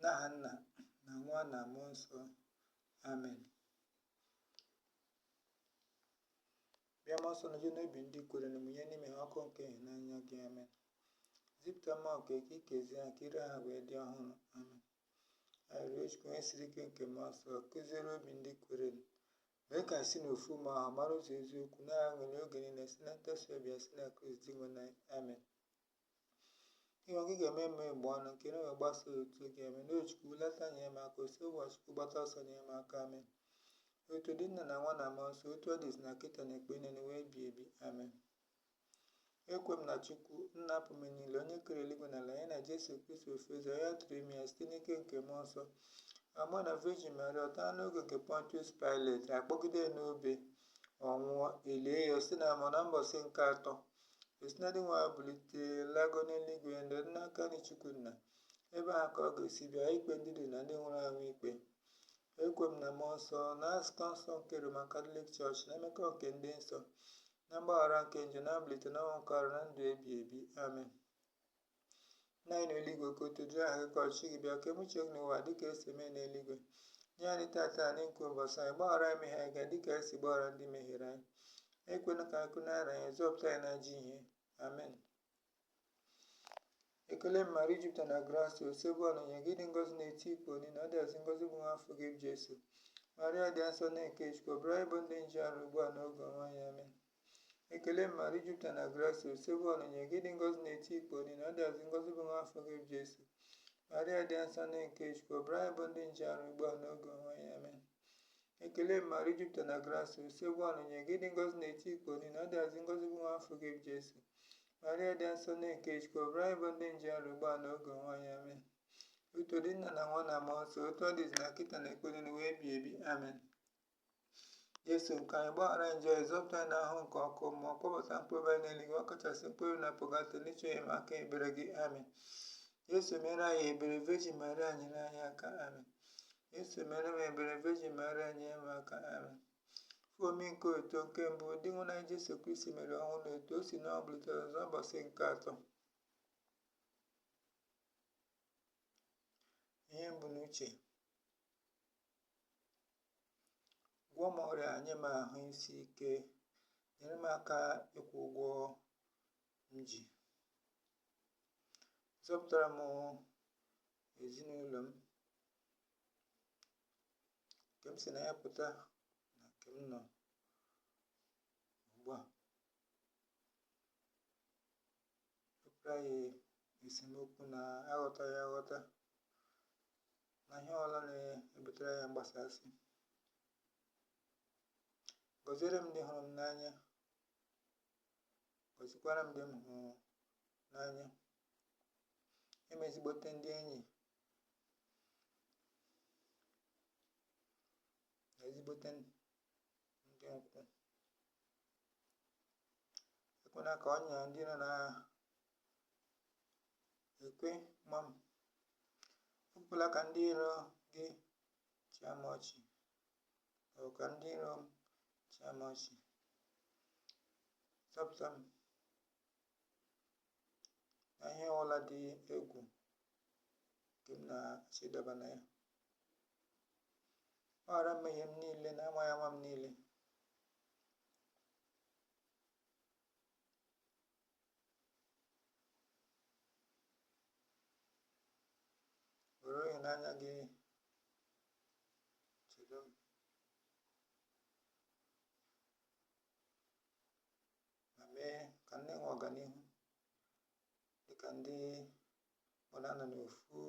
N'aha Nna na Nwa na Mmụọ Nsọ. Amen. Bịa Mmụọ Nsọ nọjue n'obi ndị kwerenụ mụnye n'ime ha ọkụ nke ịhụnanya gị. Amen. Zipụta mmụọ nke gị kezie ha ka iru ụwa wee dị ọhụrụ. Amen. Arịrịọ Chukwu onye siri n'ike nke mmụọ nsọ kuziere obi ndị kwerenụ Mee ka anyị si n'ofu mmụọ ahụ mara ụzọ eziokwu na-aṅụrị oge niile si na ntasi obi ya si na Kraịst Dinwenụ anyị. Amen. Dinwenụ ị ga-emeghe m egbugbere ọnụ ka ọnụ m wee gbasa otito gị amen o chukwu hulata nye m aka osebụrụwa chukwu gbata ọsọ nye m aka amen otito dịrị nna na nwa na mmụọ nsọ otu ọ dị izizi na kịta n'ekpo niile wee bi ebi amen ekwe m na chukwu nna pụrụ ime ihe niile onye kere eluigwe na ala ya na jesu kristi ofu ezi nwa ya a tụrụ ime ya site n'ike nke mmụọ nsọ amụọ ya na virgin mary ọ taa n'oge nke pontius pilate akpọgide ya n'obe ọ nwụọ elie ya o zida n'ala mmụọ na mbọsị nke atọ o si na ndị nwụrụ anwụ bilite lago n'eluigwe nọdụ n'aka nri chukwu nna ebe ahụ ka ọ ga-esi bịa ikpe ndị dị ndụ na ndị nwụrụ anwụ ikpe Ekwe m na mmụọ nsọ, na nzukọ nsọ nke Roman Katọlik Chọọchị, na mmekọ nke ndị nsọ, na mgbaghara nke njọ, na mbilite n'ọnwụ nke arụ, na ndụ ebi ebi. Amen. Nna anyị n'eluigwe, ka otito dịrị aha gị ka ọchịchị gị bịa, ka eme uche gị n'ụwa dị ka esi eme n'eluigwe. Nye anyị tata nri nke ụbọchị anyị, gbaghara anyị mmehie anyị dị ka anyị si gbaghara ndị mehiere anyị. Ekwena ka anyị kwenye na nranye, zọpụta anyị n'ajọ ihe. Amen. ekele maria i jupụtara na gracia osebụrụwa nọnyere gị ị dị ngọzi n'etiti ikporo niile ọ dịazị ngọzi bụ nwa afọ gị bụ jesu maria dị nsọ nne nke chukwu yọbara anyị bụ ndị njọ arịrịọ ugbu a n'oge ọnwụ anyị amen ekele maria i jupụtara na gracia osebụrụwa nọnyere gị ị dị ngọzi n'etiti ikporo niile ọ dịazị ngọzi bụ nwa afọ gị bụ jesu maria dị nsọ nne nke chukwu yọbara anyị bụ ndị njọ arịrịọ ugbu a n'oge ọnwụ anyị amen ekele maria i jupụtara na grasịa osebụrụwa nọnyere gị ị dị ngọzi n'etiti ikporo niile ọ dịazị ngọzi bụ nwa afọ gị bụ jesu maria dị nsọ nne nke chukwu yọbara anyị bụ ndị njọ arịrịọ ugbu a na oge ọnwụ anyị amen otito dịrị nna na nwa na mmụọ nsọ otu ọ dị izizi na kịta n'ekpo niile wee bi ebi amen jesu nke anyị gbaghara njọ anyị zọpụta anyị n'ahụhụ nke ọkụ mmụọ kpọbata mkpụrụ obi anyị n'eluigwe ọ kachasị mkpụrụ obi nọ na pọgatọrị na-achọ enyemaka ebere gị amen jesu mere anyị ebere virgin maria nyere anyị aka amen Jesu mere m ebere, Virgin Maria nyere m aka. Amen. Ife omimi nke otito nke mbụ, Dinwenụ anyị Jesu Kristi meriri ọnwụ na otu o si n'ọnwụ bilite ọzọ ụbọchị nke atọ. Ihe m bu n'uche. Gwọọ m ọrịa, nye m ahụ isi ike, nyere m aka ịkwụ ụgwọ m ji. Zọpụtara m ezinụlọ m. nke m si na ya pụta na nke m nọ ugbu a wepụrụ anyị esemokwu na aghọtaghị aghọta na ihe ọbụla na-ebutere ya mgbasasị gọziere m ndị hụrụ m n'anya gọzikwara m ndị m hụrụ n'anya nye m ezigbote ndị enyi na ezigbote ndị ikwu ekwena ka ọnya ndị iro na-ekwe ma m ekwela ka ndị iro gị chịa m ọchị maọbụ ka ndị iro m chịa m ọchị zọpụta m na ihe ọbụla dị egwu nke m na-achọ ịdaba na ya gbaghara mmehie m niile na amaghị ama m niile were ịhụnanya gị chedo m ma mee ka m nwee ọganihu dịka ndị ọ na-anọ n'ofu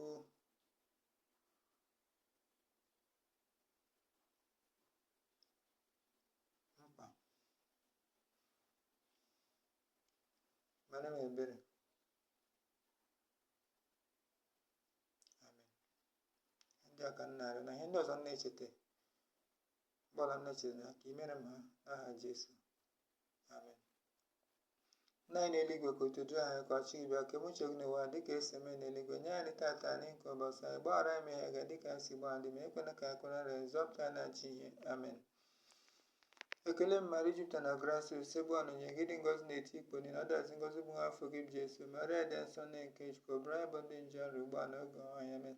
mkpa meere m ebere amen ihe ndị a ka m na-arịọ na ihe ndị ọzọ m na-echeta Gbara nna chere na ka i meere m ha n'aha Jesu amen nna anyị nọ n'eluigwe ka otito dịrị aha gị ka ọchịchị gị bịa ka e mee uche gị n'ụwa dịka e si eme n'eluigwe nye anyị tata nri nke ụbọchị anyị gbaghara anyị mmehie anyị dịka anyị si gbaghara ndị mehiere anyị ekwena ka anyị kwenye na nranye zọpụta anyị n'ajọ ihe amen ekele maria i jupụta na grasịa osebụrụwa nọnyeere gị ị dị ngọzi n'etiti ikporo niile ọ dịazị ngọzi bụ nwa afọ gị bụ jesu maria dị nsọ nne nke chukwu yọbara anyị bụ ndị njọ arịrịọ ugbu a na oge ọnwụ anyị amen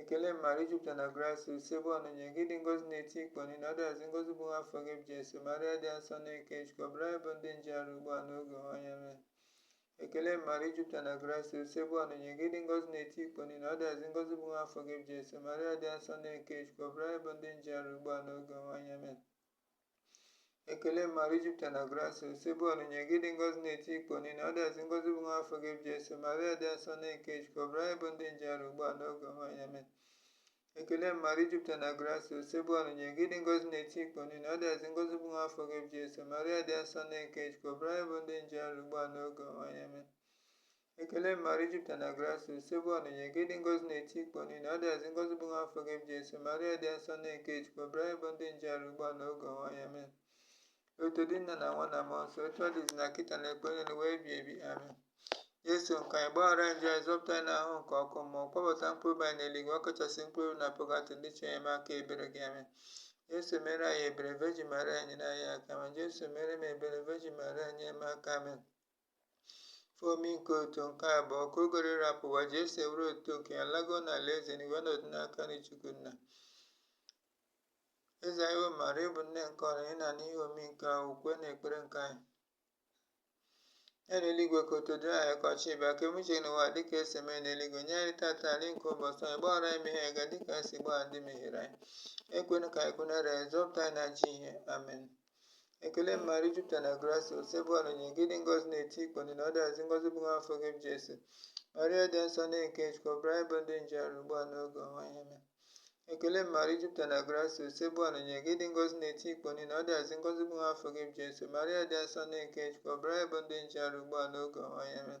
ekele maria i jupụta na grasịa osebụrụwa nọnyeere gị ị dị ngọzi n'etiti ikporo niile ọ dịazị ngọzi bụ nwa afọ gị bụ jesu maria dị asọ nne nke chukwu yọbara anyị bụ ndị njọ arịrịọ ugbu a n'oge ọnwụ anyị amen ekele maria i jupụta na grasịa osebụrụwa nọnyeere gị ị dị ngọzi n'etiti ikporo niile ọ dịazị ngọzi bụ nwa afọ gị bụ jesu maria dị asọ nne nke chukwu yọbara anyị bụ ndị njọ arịrịọ ugbu a n'oge ọnwụ anyị amen ekele maria i jupụta na grasịa osebụrụwa nọnyeere gị ị dị ngọzi n'etiti ikporo niile ọ dịazị ngọzi bụ nwa afọ gị bụ jesu maria dị asọ nne nke chukwu yọbara anyị bụ ndị njọ arịrịọ ugbu a n'oge ọnwụ anyị amen ekele maria i jupụta na grasịa osebụrụwa nọnyeere gị ị dị ngọzi n'etiti ikporo niile ọ dịazị ngọzi bụ nwa afọ gị bụ jesu maria dị asọ nne nke chukwu yọbara anyị bụ ndị njọ arịrịọ ugbu a n'oge ọnwụ anyị amen Ekele Maria, ị jupụtara na grasịa, Osebụrụwa nọnyere gị, ị dị ngọzi n'etiti ikpom niile, ọ dịazị ngọzi bụ nwa afọ gị bụ Jesu, Maria dị nsọ nne nke Chukwu, rịọbara anyị bụ ndị njọ arịrịọ ugbu a na oge ọnwụ anyị amen. Otuto dịrị nna na nwa na mmụọ nsọ, otu ọ dị n'izizi na kịta na mgbe niile ụwa ebighị ebi amen. Jesu nke anyị gbaghara anyị njọ anyị zọpụta anyị n'ahụhụ nke ọkụ mmụọ, kpọbata mkpụrụ obi anyị n'eluigwe, ọ kachasị mkpụrụ obi na pọgatọrị ndị chọrọ enyemaka ebere gị amen. Jesu mere anyị ebere, Virgin Maria nyere anyị aka amen. Jesu mere m ebere, Virgin Maria nyere m aka amen. Ife omimi nke otuto nke abụọ ka oge ruru ịrapụ ụwa Jesu were otuto nke ya lago n'alaeze eluigwe nọdụ n'aka nri Chukwu nna. Eze nwanyị bụ Maria bụ nne nke ọra ị na n'ihe omimi nke a ukwe na ekpere nke anyị. Nna anyị nọ n'eluigwe ka otuto dịrị aha gị ka ọchịchị gị bịa ka e mee uche gị n'ụwa dịka e si eme n'eluigwe nye anyị tata nri nke ụbọchị anyị gbaghara anyị mmehie anyị ga dịka anyị si gbaghara ndị mehiere anyị ekwena ka anyị kwenye na nranye zọpụta anyị n'ajọ ihe amen ekele maria ị jupụtara na grasịa osebụrụwa nọnyere gị ị dị ngọzi n'etiti ikpom niile ọ dịazị ngọzi bụ nwa afọ gị bụ jesu maria dị nsọ nne nke chukwu rịọbara anyị bụ ndị njọ arịrịọ ugbu a n'oge ọnwụ anyị amen ekele maria ị jupụtara na grasịa osebụrụwa nọnyere gị ị dị ngọzi n'etiti ikpom niile ọ dịazị ngọzi bụ nwa afọ gị bụ jesu maria dị nsọ nne nke chukwu rịọbara anyị bụ ndị njọ arịrịọ ugbu a n'oge ọnwụ anyị amen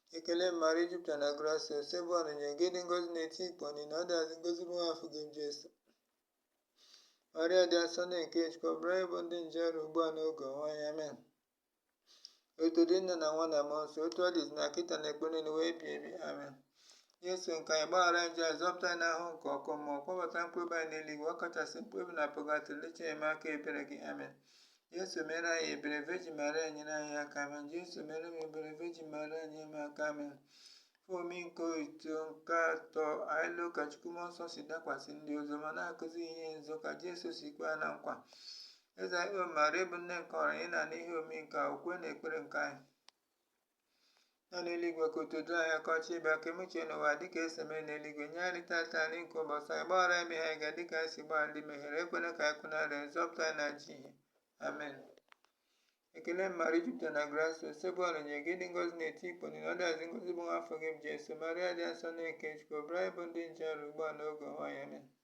Ekele Maria ị jupụtara na grasịa Osebụrụwa nọnyere gị ị dị ngọzi n'etiti ikpom niile ọ dịazị ngọzi bụ nwa afọ gị bụ Jesu. Maria dị asọ nne nke Chukwu rịọbara anyị bụ ndị njọ arịrịọ ugbu a n'oge ọnwụ anyị amen. Otuto dịrị nna na nwa na mmụọ nsọ otu ọ dị n'izizi na kịta na mgbe niile ụwa ebighị ebi amen. Jesu nke anyị gbaghara njọ anyị zọpụta anyị n'ahụhụ nke ọkụ mmụọ kpọbata mkpụrụ obi anyị n'eluigwe ọ kachasị mkpụrụ obi na pọgatọrị ndị chọrọ enyemaka ebere gị amen. Jesu mere anyị ebere Virgin Maria nyere anyị aka amen Jesu mere m ebere Virgin Maria nyere m aka amen ife omimi nke otito nke atọ anyị lo ka Chukwu Mmụọ Nsọ si dakwasị ndị ozi ọma na-akụzi ihe nzọ ka Jesu si kwe ha na nkwa eze nwanyị bụ Maria bụ nne nke ọra anyị na n'ihe omimi nke a ukwe na ekpere nke anyị nna anyị nọ n'eluigwe ka otuto dịrị aha gị ka ọchịchị gị bịa ka e mee uche gị n'ụwa dịka e si eme n'eluigwe nye anyị tata nri nke ụbọchị anyị gbaghara anyị mmehie anyị ga dịka anyị si gbaghara ndị mehiere anyị ekwena ka anyị kwenye na nranye zọpụta anyị n'ajọ ihe amen ekele maria ị jupụtara na grasịa osebụrụwa nọnyere gị ị dị ngọzi n'etiti ikpom niile ọ dịazị ngọzi bụ nwa afọ gị bụ jesu maria dị asọ nne nke chukwu rịọbara anyị bụ ndị njọ arịrịọ ugbu a n'oge ọnwụ anyị amen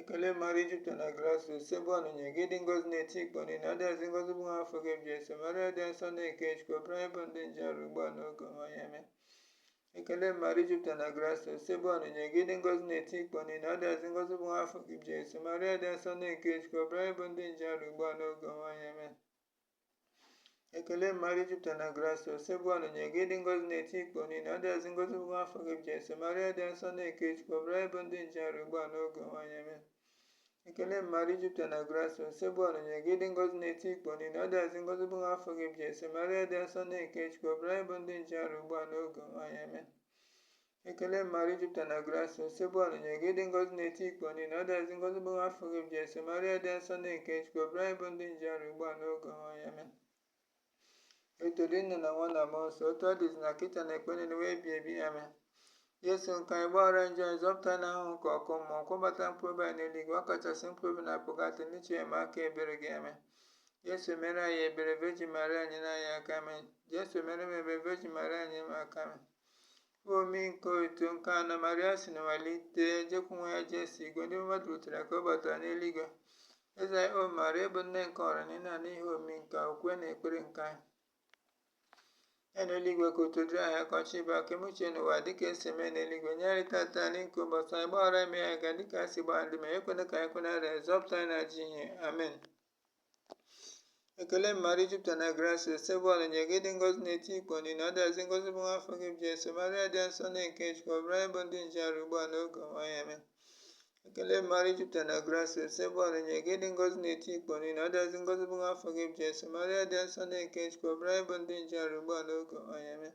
ekele mara ijupụta na graso sebe ọnụnye gị dị ngozi na-eti ikpọ niile adịghịzi ngozi bụ nwa afọ gị ebi ese mara dị nsọ na nke chukwu ọbụrụ anyị bụ ndị nje ọrụ ugbu a n'oge ọma ya eme ekele mara ijupụta na graso sebe ọnụnye gị dị ngozi na-eti ikpọ niile adịghịzi ngozi bụ nwa afọ gị ebi ese mara dị nsọ na nke chukwu ọbụrụ anyị bụ ndị nje ọrụ ugbu a n'oge ọma ya eme ekele maria i jupụta na grasia osebụrụwa nọnyere gị ị dị ngọzi n'etiti ikporo niile ọ dịazị ngọzi bụ afọ gị bụ jesu maria dị nsọ nne nke chukwu yọbara anyị bụ ndị njọ arịrịọ ugbu a n'oge ọnwụ anyị amen ekele maria i jupụta na grasia osebụrụwa nọnyere gị ị dị ngọzi n'etiti ikporo niile ọ dịazị ngọzi bụ afọ gị bụ jesu maria dị nsọ nne nke chukwu yọbara anyị bụ ndị njọ arịrịọ ugbu a n'oge ọnwụ anyị amen Ekele Maria i jupụta na grasia, Osebụrụwa nọnyere gị ị dị ngọzi n'etiti ikporo niile, ọ dịazị ngọzi bụ nwa afọ gị bụ Jesu, Maria dị nsọ nne nke Chukwu, yọbara anyị bụ ndị njọ arịrịọ ugbu a n'oge ọnwụ anyị amen. Otito dịrị nna na nwa na mmụọ nsọ, otu ọ dị n'izizi na kịta na mgbe niile ụwa ebi ebi amen. Jesu nke anyị gbaghara njọ anyị zọpụta n'ahụhụ nke ọkụ mmụọ, kpọbata mkpụrụ obi anyị n'eluigwe, ọ kachasị mkpụrụ obi na pọgatọrị ndị chọrọ enyemaka ebere gị amen. Jesu mere anyị ebere, Virgin Maria nyere anyị aka amen. Jesu mere m ebere, Virgin Maria nyere m aka amen. omimi nke otito nke anọ maria si n'ụwa bilite jekwu nwa ya jesu igwe ndị mmụọ ọma dutere ka ọ batara n'eluigwe eze anyị o maria ị bụ nne nke ọra na ị na-anụ ihe omimi nke okwukwe n'ekpere nke anyị nna anyị n'eluigwe ka otito dịrị aha gị ka ọchịchị gị bịa ka e mee uche gị n'ụwa dịka esi eme n'eluigwe nye anyị tata nri nke ụbọchị anyị gbaghara mmehie anyị ga dịka anyị si gbaghara ndị mehiere anyị ekwena ka anyị kwe na nranye zọpụta anyị n'ajọ ihe amen ekele maria i jupụta na grasia osebụrụwa nọnyere gị ị dị ngọzi n'etiti ikporo niine ọ dịazị ngọzi bụ nwa afọ gị bụ jesu maria dị nsọ nne nke chukwu yọbara anyị bụ ndị njọ arịrịọ ugbu a n'oge ọnwụ anyị amen ekele maria i jupụta na grasia osebụrụwa nọnyere gị ị dị ngọzi n'etiti ikporo niine ọ dịazị ngọzi bụ nwa afọ gị bụ jesu maria dị nsọ nne nke chukwu yọbara anyị bụ ndị njọ arịrịọ ugbu a n'oge ọnwụ anyị amen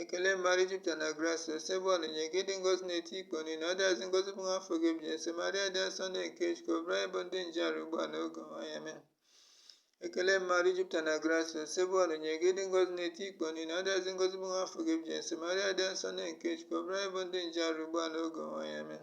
ekele maria i jupụta na grasia osebụrụwa nọnyere gị ị dị ngọzi n'etiti ikporo niine ọ dịazị ngọzi bụ nwa afọ gị bụ jesu maria dị nsọ nne nke chukwu yọbara anyị bụ ndị njọ arịrịọ ugbu a n'oge ọnwụ anyị amen ekele maria i jupụta na grasia osebụrụwa nọnyere gị ị dị ngọzi n'etiti ikporo niine ọ dịazị ngọzi bụ nwa afọ gị bụ jesu maria dị nsọ nne nke chukwu yọbara anyị bụ ndị njọ arịrịọ ugbu a n'oge ọnwụ anyị amen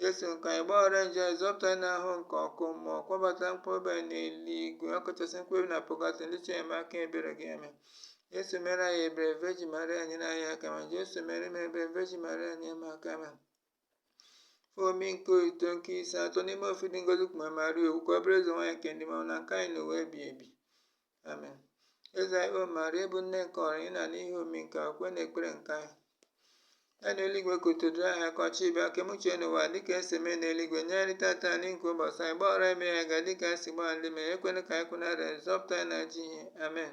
Jesu nke anyị gbaghara njọ zọpụta anyị n'ahụhụ nke ọkụ mmụọ kpọbata mkpụrụobi n'eluigwe ọkachasị mkpụrụobi na pọgatọrị ndị chọrọ enyemaka ebere gị amen Jesu mere anyị ebere virgin maria nyere anyị aka amen Jesu mere m ebere virgin maria nyere m aka amen ihe omimi nke otito nke ise atọ n'ime ofu dị ngọzi kpube maria okpu ka ọ bụrụ eze nwaanyị nke ndị mmụọ ọma na nke anyị n'ụwa ebi ebi Amen. Eze anyị o Maria ị bụ nne nke ọra ị na-anụ ihe omimi nke okwukwe n'ekpere nke anyị. Nna anyị n'eluigwe ka otito dịrị aha gị ka ọchịchị gị bịa ka e mee uche gị n'ụwa dịka e si eme n'eluigwe nye anyị tata nri nke ụbọchị anyị gbaghara anyị mmehie anyị ga dịka anyị si gbaghara ndị mehiere anyị ekwela ka anyị kwe na nranye zọpụta anyị n'ajọ ihe amen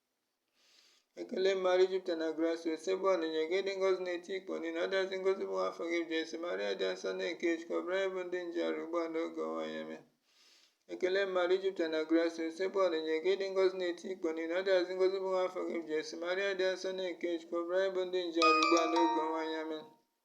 ekele maria i jupụta na grasia osebụrụwa nọnyere gị ị dị ngọzi n'etiti ikporo niile ọ dịazị ngọzi bụ afọ gị jesu maria dị nsọ nne nke chukwu yọbara anyị bụ ndị njọ arịrịọ ugbu a n'oge ọnwụ anyị amen ekele maria i jupụta na grasia osebụrụwa nọnyere gị ị dị ngọzi n'etiti ikporo niile ọ dịazị ngọzi bụ afọ gị jesu maria dị nsọ nne nke chukwu yọbara anyị bụ ndị njọ arịrịọ ugbu a n'oge ọnwụ anyị amen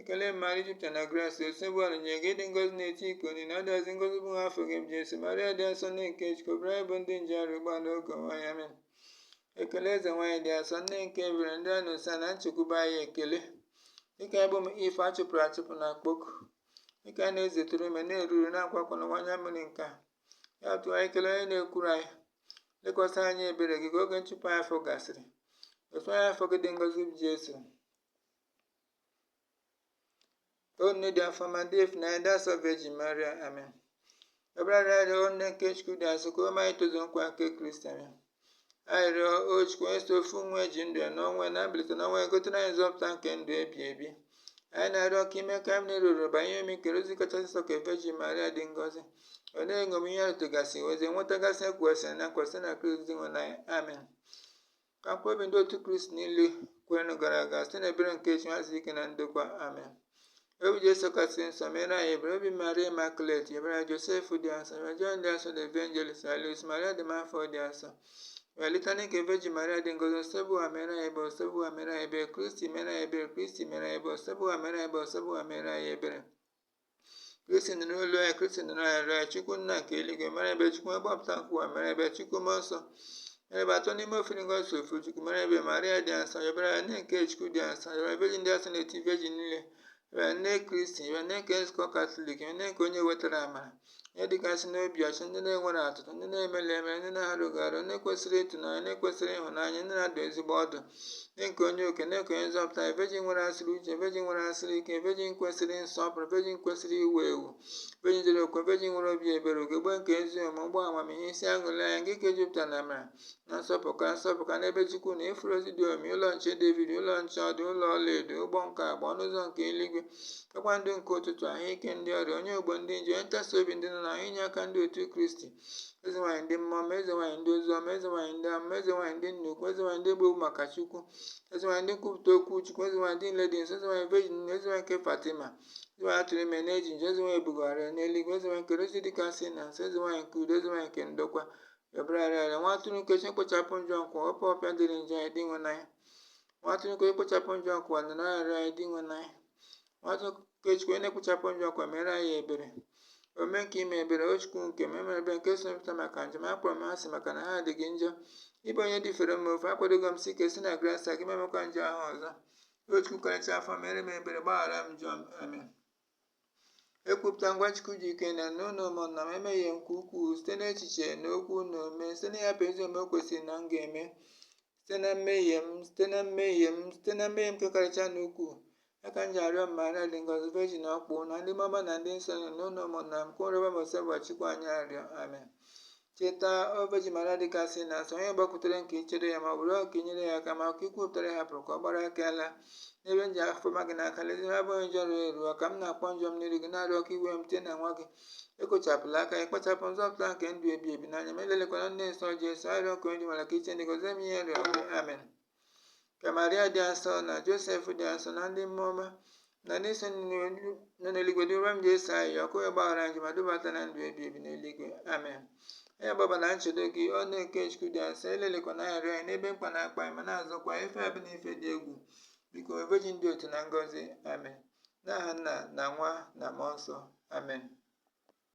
ekele maria jupụtara na grasia osebụwa nọnyeere gị ị dị ngọzi n'etiti ikporo niile ọ dịazị ngọzi bụ nwa afọ gị bụ jesu maria dị asọ nne nke chukwu yọbara anyị bụ ndị njọ arịrịọ ugbu a na n'oge ọnwụ anyị amen ekele eze nwaanyị dị asọ nne nke ebere ndụ anyị na ụsọ anyị na nchekwube anyị ekele gị ka anyị bụ ụmụ iv a chụpụrụ achụpụ na-akpọku gị ka anyị na-ezetụrụ ume na-eru uru na-akwa akwa n'ụwa anya mmiri nke a ya tụọ anyị kele onye na-ekwuru anyị lekwasị anyị anya ebere gị ka oge nchụpụ anyị ahụ gasịrị gosi anyị nwa afọ gị dị ngọzi bụ jesu O nne dị afọ ọma dị ịfụnanya dị asọ Virgin Maria amen. Yọbara anyị arịrịọ o nne nke Chukwu dị asọ ka o mee anyị itozu nkwa nke Kristi amen. Anyị rịọ o Chukwu onye sọ ofu nwa ya ji ndụ ya na ọnwụ ya na mbilite n'ọnwụ ya gotere anyị nzọpụta nke ndụ ebi ebi. Anyị na-arịọ ka i mee ka anyị ruru banyere omimi nke rozari kachasị nsọ nke Virgin Maria dị ngọzi. Ọ na-eṅomi ihe atụgasị wee nwetagasị ihe e kwegasịrị na nkwa si na Kristi Dinwenụ anyị amen. ka mkpụrụ obi ndị otu kristi niile kwerenụ gara aga site n'ebere nke chukwu zuru ike na ndokwa amen obi jesu kasị nsọ mere anyị ebere obi maria imakulet yọbara josef dị asọ yọbara jon dị asọ the evangelist yọbara luis maria de montfort dị asọ yọbara litani nke vejin maria dị ngọzi osebụwa mere anyị ebere osebụwa mere anyị ebere kristi mere anyị ebere kristi mere anyị ebere osebụwa mere anyị ebere osebụwa mere anyị ebere kristi nụrụ olu anyị kristi nụrụ arịrịọ anyị chukwu nna nke eluigwe mere ebere chukwu mgbapụta nke ụwa mere ebere chukwu mmụọ nsọ mere ebere atọ n'ime ofu dị ngọzi sọ ofu chukwu mere ebere maria dị asọ yọbara anyị nne nke chukwu dị asọ yọbara vejin dị asọ n'etiti vejin niile yọbara nne kristi yọbara nne nke nzukọ katọlik yọbara nne nke onye wetara amara nne dịkasị n'obi ọcha nne na-enwerọ atụtụ nne na-emerụrọ emerụ nne na-arụghị arụ nne kwesịrị ịtụnanya nne kwesịrị ịhụnanya nne na-adụ ezigbo ọdụ nne nke onye okike nne nke onye nzọpụta vejin nwekasịrị uche vejin nwekasịrị ike vejin kwesịrị nsọpụrụ vejin kwesịrị iwu ewu vejin ji ezi okwu vejin nwere obi ebere ogegbe nke ezi omume ukpo amamihe isi aṅụrị anyị nke ike jupụtara na amara na nsọpụka nsọpụka n'ebe Chukwu nọ ifuru rozi dị omimi ụlọ nche David ụlọ nche ọdụ ụlọ ọlaedo ụgbọ nke agba ọnụ ụzọ nke eluigwe kpakpando nke ụtụtụ ahụike ndị ọrịa onye ogbugbo ndị njọ onye nkasi obi ndị nọ n'ahụhụ inye aka ndị otu Kristi eze nwaanyị ndị mmụọ ọma eze nwaanyị ndị ozi ọma eze nwaanyị ndị amụma eze nwaanyị ndị nnukwu eze nwaanyị ndị e gburu egbu maka Chukwu eze nwaanyị ndị nkwupụta okwu Chukwu eze nwaanyị ndị nile dị nsọ eze nwaanyị vejin nile eze nwaanyị nke Fatima eze nwaanyị a tụụrụ ime na-ejirọ njọ eze nwaanyị e bugoro n'eluigwe eze nwaanyị nke rozari dịkasị nsọ eze nwaanyị nke udo eze nwaanyị nke ndokwa Yọbara anyị arịrịọ nwa atụrụ nke Chukwu na-ekpochapụ njọ nke ụwa wepụ ọpịpịa dịịrị njọ anyị dinwenụ anyị nwa atụrụ nke Chukwu na-ekpochapụ njọ nke ụwa nụrụ arịrịọ anyị dinwenụ anyị nwa atụrụ nke Chukwu onye na-ekpochapụ njọ nke ụwa mere anyị ebere omume nke ime ebere o Chukwu nke m emere m ebere nke si m n'obi pụta maka njọ m akpọrọ m ha asị maka na ha dị gị njọ ị bụ onye dịfere mma ofe akwadogo m si ike si na grasia gị m emekwa njọ ahụ ọzọ o Chukwu karịcha afọ ọma mere m ebere gbaghara m njọ m amen ekwupụta m gwa Chukwu ji ike nine na unu ụmụnna m emehie m nke ukwuu site n'echiche na okwu na omume site na ịhapụ ezi omume kwesịrị na m ga-eme site na mmehie m site na mmehie m site na mmehie m nke karịchara ukwuu ya ka m ji arịọ Maria dị ngọzi vejin ọkpụ na ndị mmụọ ọma na ndị nsọ nine na unu ụmụnna m ka unu rịọbara m Osebuluwa Chukwu anyị arịrịọ amen Cheta, o Virgin Maria dịkasị na asọ onye gbakwutere nke ichere ya ma ọ bụ rịọ ka i nyere ya aka ma ka i kwupụtara ya hapụrụ ka ọ gbara aka laa n'ebe m ji afọ ma gị n'aka lezie abụ m onye njọ rụrụ eruwa ka m na-akpọ njọ m n'iru gị na-arịọ ka i were m tie na nwa gị ekochapụla aka ịkpachapụ nzọpụta nke ndụ ebi ebi n'anya ma elelịkwana nne nsọ Jesu arịrịọ ka onye ji mara ka i chee ntị gọzie m ihe m rịọ gị amen ka maria dị asọ na josef dị asọ na ndị mmụọ ọma na ndị nsọ nọ n'eluigwe rịọrọ m jesu ayịyọ ka o wee gbaghara anyị ma dubata na ndụ ebi ebi n'eluigwe amen anyị agbaba na nchedo gị o nne nke chukwu dị asọ elelịkwana arịrịọ anyị n'ebe mkpa na-akpa anyị ma na-azọkwa ife ọbụna ife dị egwu biko vejin dị otito na ngọzi amen n'aha nna na nwa na mmụọ nsọ amen